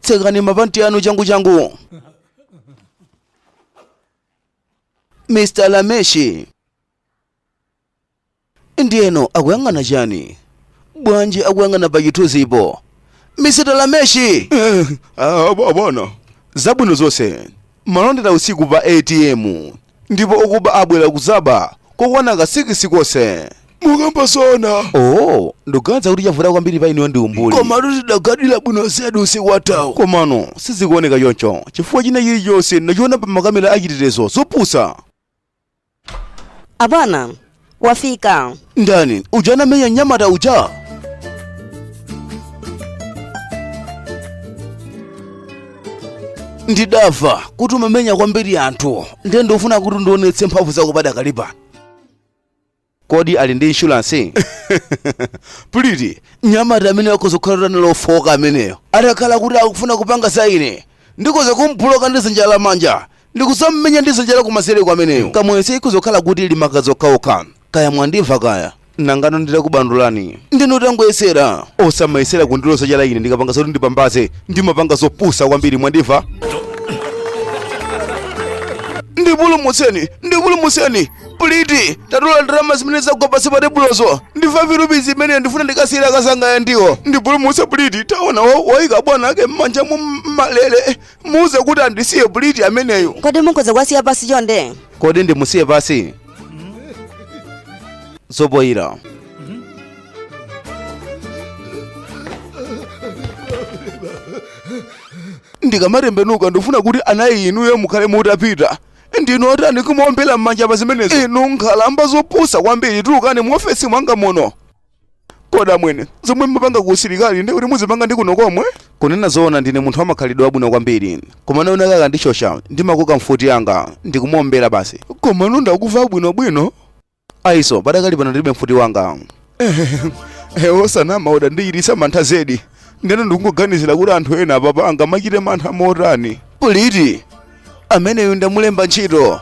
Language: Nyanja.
tsekani mapanti anu changu changu mr lameshi ndiyeno akuyang'ana chani bwanji akuyang'ana pa chithunzipo mr lameshi bwana zabwino zonse Malondera usiku pa ATM ndipo okuba abwera kudzaba kokwana ka sikisi konse. mukamba zoona Oh, ndikuganiza kuti chavuta kwambiri pa inuyo ndi umbuli. koma tidagadira bwino zedi usiku watawo komano sizikuoneka choncho chifukwa china chilichonse ndachiona pa makamera achitetezo zopusa Abwana, wafika. ndani uja anamenya nyamata uja ndidava kuti umamenya kwambiri anthu ndiye ndofuna kuti undionetse mphamvu zako padakali pano Kodi ali ndi insurance? Pretty, mnyamata ameneyo akhoza kukhala kuti anali ofooka ameneyo. Atakhala kuti akufuna kupanga za ine, ndikhoza kumubuloka ndi zanja la manja ndikuzamumenya ndi zanja la kumanzereku ameneyo. Kamuyese ikhoza kukhala kuti ili magazi okhaokha. Kaya mwandimva kaya? Nangano nditakubandulani. Ndinu otangoyesera. Osamayesera kundiloza chala ine ndikapanga zoti ndipambaze. Ndimapanga zopusa kwambiri mwandimva? Ndipulumutseni, ndipulumutseni. Pretty, tatola ndalama zimene zagwa pansi pa tebulozo. Ndi 5 rupees imene ndifuna ndikasiyira akazanga ya ndiwo. Ndipulumutse Pretty, taona wa- waika bwana ake m'mwamba mwa m- malere. Muuze kuti andisiye Pretty ameneyo. kodi mukhoza kuwasiya pasi chonde Kodi ndimusiye pasi? Zopoyira. ndikamatembenuka ndifuna kuti anayi inuyo mukhale mutapita ndinu otani kumaombera m'manja pa zimenezo inu nkhalamba zopusa kwambiri tulukani mu ofesi mwanga muno kodi amwene zomwe mumapanga ku usilikali ndi kuti muzipanga ndi kuno komwe kunena zoona ndine munthu wamakhalidwe abwino kwambiri koma wina akandishosha ndimakoka mfuti yanga ndikumuombera basi komano ndakuva bwinobwino Aiso, padakali pano ndilibe mfuti wanga. Eh, osanama udandichititsa mantha zedi. Ndeno ndikungoganizira kuti anthu ena apapa angamachite mantha motani. Pretty, ameneyu ndamulemba ntchito.